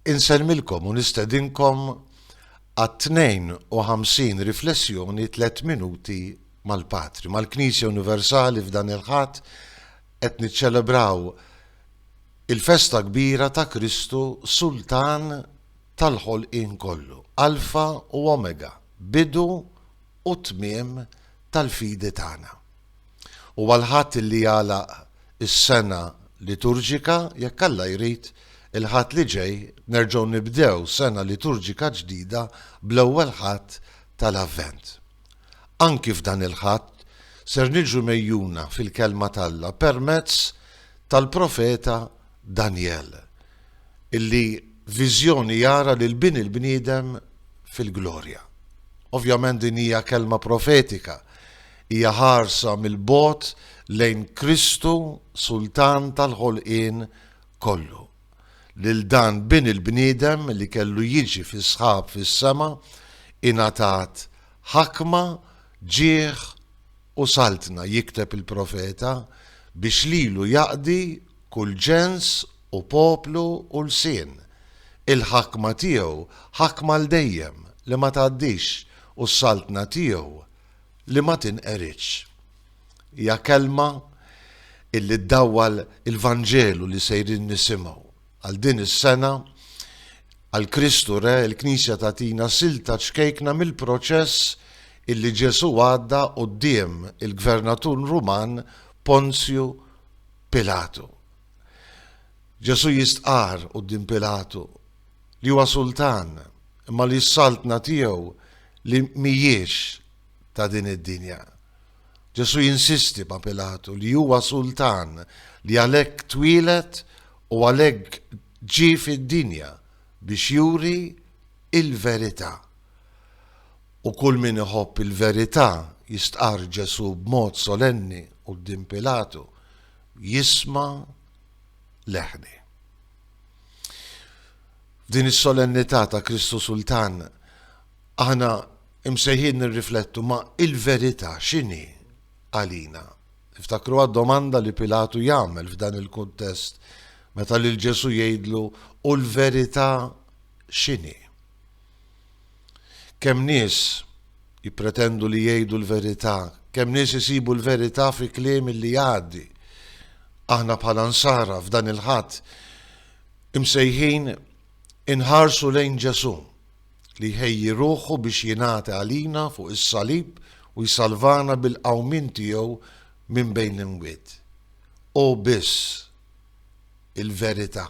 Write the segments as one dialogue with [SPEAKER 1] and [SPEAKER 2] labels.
[SPEAKER 1] Insellmilkom u nistedinkom għat-52 riflessjoni Tliet Minuti mal-Patri. Mal-Knisja Universali f'dan il-Ħadd qed niċċelebraw il-festa kbira ta' Kristu Sultan tal-ħolqien kollu, Alfa u Omega, bidu u tmiem tal-fidi tagħna. U għal Ħadd li jagħlaq is-sena liturġika, jekk Alla jrid, il-Ħadd li ġej nerġgħu nibdew sena liturġika ġdida bl-Ewwel Ħadd tal-Avvent. Anki f'dan il-Ħadd ser niġu megħjuna fil-Kelma t'Alla permezz tal-profeta Danjel, illi f'viżjoni jara lil Bin il-bniedem fil-glorja. Ovvjament din hija kelma profetika, Hija ħarsa mill-bogħod lejn Kristu Sultan tal-ħolqien kollu, lil dan Bin il-bniedem li kellu jiġi fis-sħab fis-sema ingħatat ħakma, ġieħ u saltna, jikteb il-profeta, biex lilu jaqdi kull ġens u poplu u lsien. Il-ħakma tiegħu ħakma għal dejjem li ma tgħaddix u s-saltna tiegħu li ma tinqeridx. Hija kelma illi ddawwal il-Vanġelu li sejrin nisimgħu. Għal din is-sena, għal Kristu Re, il-Knisja tagħtina silta ċkejkna mill-proċess illi Ġesù għadda quddiem il-gvernatur Ruman Ponzju Pilatu. Ġesù jistqarr quddiem Pilatu li huwa sultan, imma li s-saltna tiegħu li mhijiex ta' din id-dinja. Ġesù jinsisti ma' Pilatu li huwa sultan li għalhekk twieled u għalhekk ġie fid-dinja biex juri il-verità. U kull min iħobb il-verità, jistqarr Ġesù b'mod solenni quddiem Pilatu, jisma' leħni. F'din is-solennità ta' Kristu Sultan aħna imsejħin nirriflettu ma' il-verità x'inhi għalina. Iftakru għad-domanda li Pilatu jagħmel f'dan il-kuntest meta lil Ġesu jgħidlu u l-verità x'inhi. Kemm nies jippretendu li jgħidu l-verità, kemm nies isibu l-verità fi kliem li jgħaddi. Aħna bħala Nsara f'dan il-Ħadd imsejħin inħarsu lejn Ġesù li jħejji ruħu biex jingħati għalina fuq is-salib u jsalvana bil-qawmien tiegħu minn bejn l-imwiet. Hu biss il-verità.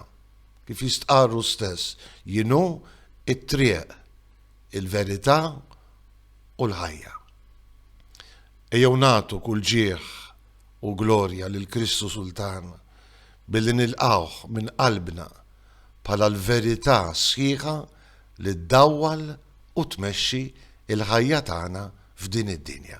[SPEAKER 1] Kif jistqarr hu stess, jien hu t-triq, il-verità u l-ħajja. Ejjew nagħtu kull ġieħ u glorja lil Kristu Sultan billi nilqgħuh minn qalbna bħala l-verità sħiħa li ddawwal u tmexxi l-ħajja tagħna f'din id-dinja.